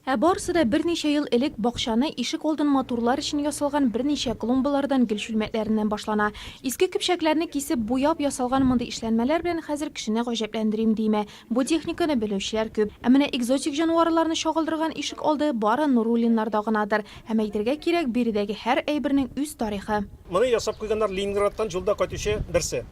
Ә барысы да берничә ел элек бакчаны, ишек алдын матурлар өчен ясалган берничә клумбалардан, гөл чүлмәкләреннән башлана. Иске көпчәкләрне кисеп, буяп ясалган мондый эшләнмәләр белән хәзер кешене гаҗәпләндерим димә, бу техниканы белүчеләр күп. Ә менә экзотик җанварларны чагылдырган ишек алды бары Нуруллиннарда гынадыр. Һәм әйтергә кирәк, биредәге һәр әйбернең үз тарихы. Моны ясап куйганнар Ленинградтан җулда кайтучы берсе.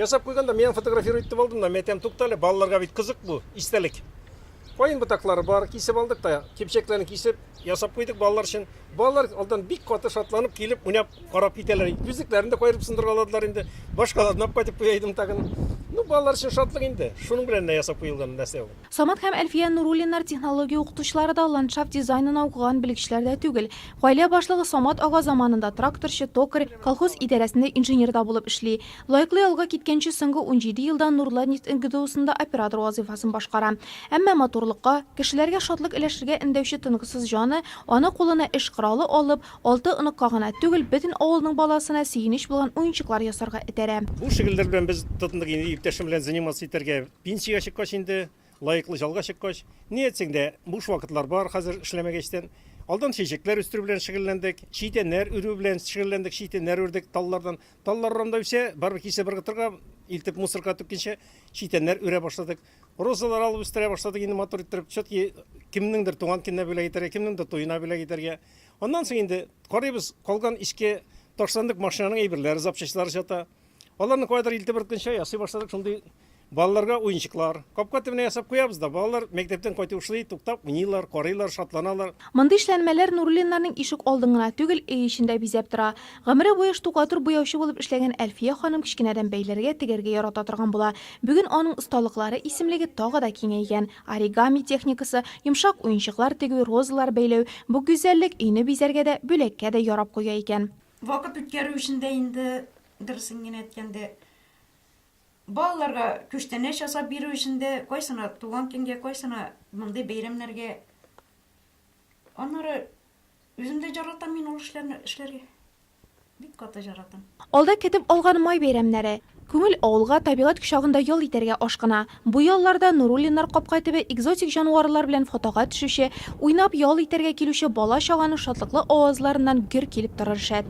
Ясап куйганда, миңа фотографирую итеп алдым да, мин әйтәм, туктале, балаларга бит кызык бу, истәлек. Каен ботаклары бар, кисеп алдык та, кипчәкләрен кисеп, ясап куйдык балалар өчен. Балалар алдан бик каты шатланып килеп, уйнап, карап китәләр. Күзлекләрен дә каерып сындыргаладылар инде. Башкаларын алып кайтып куя идем тагын. Ну, балалар өчен шатлык инде. Шуның белән генә ясап куелган нәрсә ул. Самат һәм Әлфия Нуруллиннар технология укытучылары да, ландшафт дизайнына укыган белгечләр дә түгел. Гаилә башлыгы Самат ага заманында тракторчы, токарь, колхоз идарәсендә инженер да булып эшли. Лайклый алга киткәнче соңгы унҗиде елдан Нурлат нефть НГДУсында оператор вазыйфасын башкара. Әмма матурлыкка, кешеләргә шатлык өләшергә өндәүче тынгысыз җаны, аны кулына эш коралы алып, алты оныкка гына түгел, бөтен авылның баласына сөенеч булган уенчыклар ясарга этәрә. Бу шөгыльләр белән без тотындык инде иптәшем белән заниматься итәргә. Пенсиягә чыккач инде, лаеклы чалга чыккач, ни әйтсәң дә, буш вакытлар бар хәзер эшләмәгәчтән. Алдан чәчәкләр үстерү белән шөгыльләндек, читәннәр өрү белән шөгыльләндек, читәннәр үрдек таллардан. Таллар урамда үсә, барыбер кичә бер кытырга илтеп мусорка атып кичә читәннәр үрә башладык. Розалар алып үстерә башладык инде матур иттереп. Все-таки кемнеңдер туган көненә бүләк итәргә, кемнеңдер туена бүләк итәргә. Аннан соң инде карыйбыз, калган эчке ташландык машинаның әйберләре, запчастьлары чата. Аларны кайдыр илтеп бер көнчә ясый башладык, шундый Балаларга уенчыклар, капка төбенә ясап куябыз да, балалар мәктәптән кайтып ушлый, туктап уйныйлар, карыйлар, шатланалар. Мондый эшләнмәләр Нуруллиннарның ишек алдын гына түгел, өй эчен дә бизәп тора. Гомере буе штукатур буяучы булып эшләгән Әлфия ханым кечкенәдән бәйләргә, тегәргә ярата торган була. Бүген аның осталыклары исемлеге тагы да киңәйгән. Оригами техникасы, йомшак уенчыклар тегү, розалар бәйләү, бу гүзәллек өйне бизәргә дә, бүләккә дә ярап куя икән. Вакыт үткәрү өчен дә инде, дөресен генә әйткәндә, Балаларга күчтәнәч ясап бирү өчен дә, кайсына туган көнгә, кайсына мондый бәйрәмнәргә. Аннары үзем дә җаратам мин ул эшләрне эшләргә. Бик каты җаратам. Алда көтеп алган май бәйрәмнәре. Күңел авылга, табигать кочагында ял итәргә ашкына. Бу ялларда Нуруллиннар капкай төбе экзотик җанварлар белән фотога төшүче, уйнап ял итәргә килүче бала-чаганың шатлыклы авазларыннан гөр килеп торыр шәт.